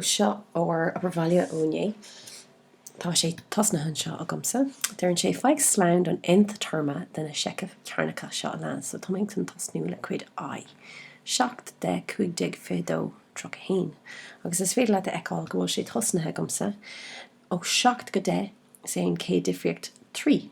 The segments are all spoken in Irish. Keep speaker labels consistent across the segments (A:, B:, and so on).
A: Seo ár obair bhaile ó inné. Tá sé tosnaithe anseo agamsa. Deireann sé, Faigh slonn don nth téarma de na seichimh chearnacha seo a leanas, so tá mé chun tosnú le cuid I, 7, 10, 15, 22, 31. Agus is féidir leat a fheiceáil go bhfuil sé tosnaithe agamsa ó 7 go 10, is é an chéad difríocht 3.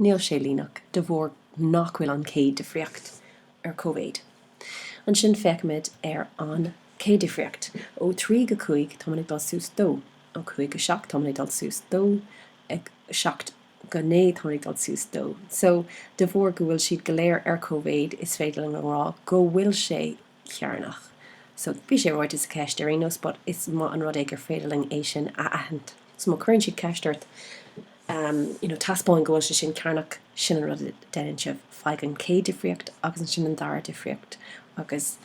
A: Níl sé líneach, de bharr nach bhfuil an chéad-difríocht ar cóimhéid. Ansin féachaimid ar an chéad-difríocht, ó 3 go 5 táimid ag dul suas 2, ó 5 go 7 táimid ag dul suas 2, 7 go 9 táimid ag dul suas 2. So, de bharr go bhfuil siad go léir ar cóimhéid, is féidir linn a rá go bhfuil sé cearnach. So bhí sé ráite sa cheist ar aon nós but is maith an rud é gur féidir linn é sin a aithint. So má cuireann siad ceist ort em you know taispeáin go bhfuil sé sin cearnach, sin an rud a deineann sibh, faigh an chéad difríocht agus ansin an dara difríocht agus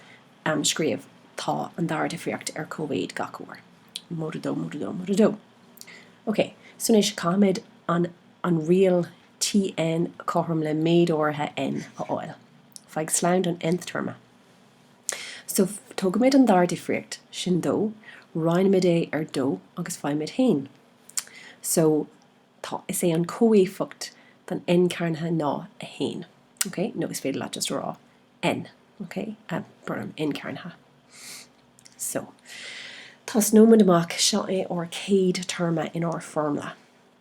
A: em scríobh tá an dara difríocht ar cóimhéid gach uair. Móide dó, móide dó, móide dó. Ok, so anois caithfimid an an riail Tn cothrom le méid áirithe N a fháil. Faigh slonn don nth téarma. So, tógaimid an dara difríocht sin dó, roinnimid é ar dó agus faighimid 1. So, tá, is é an comhéifeacht don N cearnaithe ná 1. Ok? Nó is féidir leat just a rá N. Ok? Brón orm, N cearnaithe. So, tosnóimid amach, seo é ár céad téarma in ár foirmle.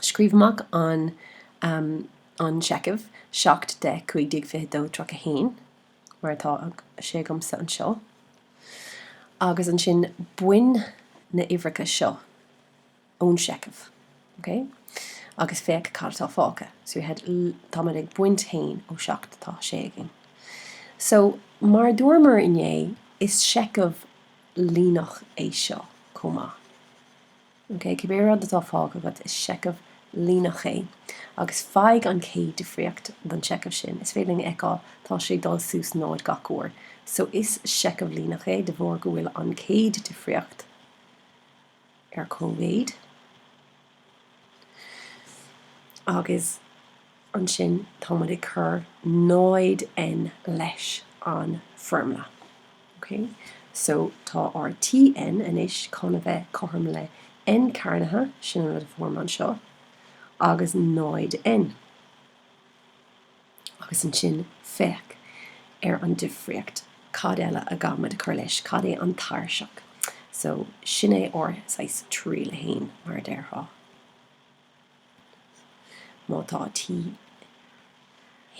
A: Scríobh amach an an seicheamh 7, 10, 15, 22, 31, mar atá sé agamsa anseo, agus ansin bain na uimhreacha seo ón seicheamh, OK, agus féach cad atá fágtha. So we had tá muid ag baint 1 ó 7 tá 6 againn. So mar a dúramar inné, is seicheamh líneach é seo chomh maith. OK, cibé rud atá fágtha agat, is seicheamh líneach é. Agus faigh an chéad difríocht don seicheamh sin. Is féidir linn a fheiceáil, tá sé ag dul suas 0 gach uair. So is seicheamh líneach é de bharr go bhfuil an chéad difríocht ar cóimhéid agus. ansin tá muid ag cur 0N leis an bhfoirmle. OK? So tá ár Tn anois chun a bheith cothrom le N cearnaithe, sin an rud a fuair mé anseo, agus 0N. Agus ansin féach ar an difríocht. Cad eile a gcaithfimid a chur leis? Cad é an tairseach? So sin é ár saghas triail a haon, mar a déarfá. Má tá T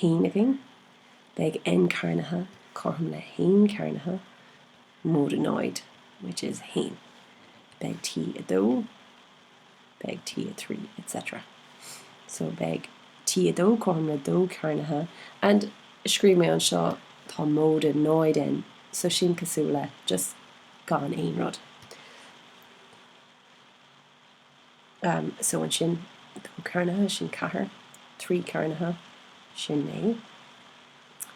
A: haon againn, beidh N cearnaithe cothrom le haon cearnaithe móide náid, which is haon. Beidh T a dó, beidh T a trí, etc. So beidh T a dó cothrom le dó cearnaithe, and scríobh mé anseo tá móide náid N, so sin cosúil le just gan aon rud. so ansin dó cearnaithe, sin ceathair, trí cearnaithe, sin naoi.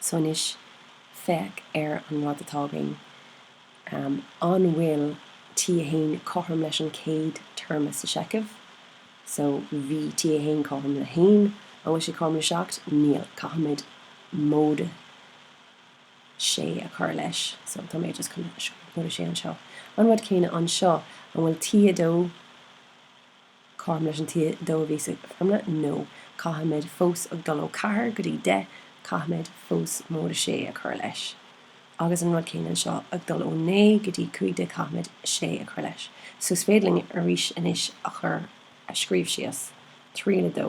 A: So anois, féach ar an rud atá againn. An bhfuil T1 cothrom leis an chéad téarma sa seicheamh? So bhí T1 cothrom le haon, an bhfuil sé cothrom le seacht? Níl, caithfimid móide. sé a chur leis. So tá mé just chun móide sé anseo. An rud céanna anseo, an bhfuil T2 cothrom leis an T2 a bhí sa fhoirmle? No. Caithfimid fós ag dul ó ceathair go dtí deich, caithfimid fós móide sé a chur leis. Agus an rud céanna anseo, ag dul ó naoi go dtí cúig déag, caithfimid sé a chur leis. So is féidir linn arís anois a chur a scríobh síos. Triail a dó.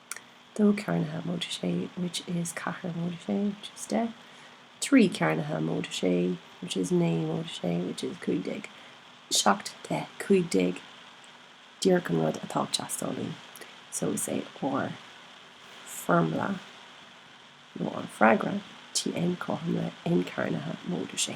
A: 2 cearnaithe móide sé which is ceathair móide sé which is deich 3 cearnaithe móide sé which is naoi móide sé which is cúig déag 7 deich 15 díreach an rud atá ag teastáil uainn so is é ár bhfoirmle nó ár bhfreagra tn cothrom le n cearnaithe móide sé.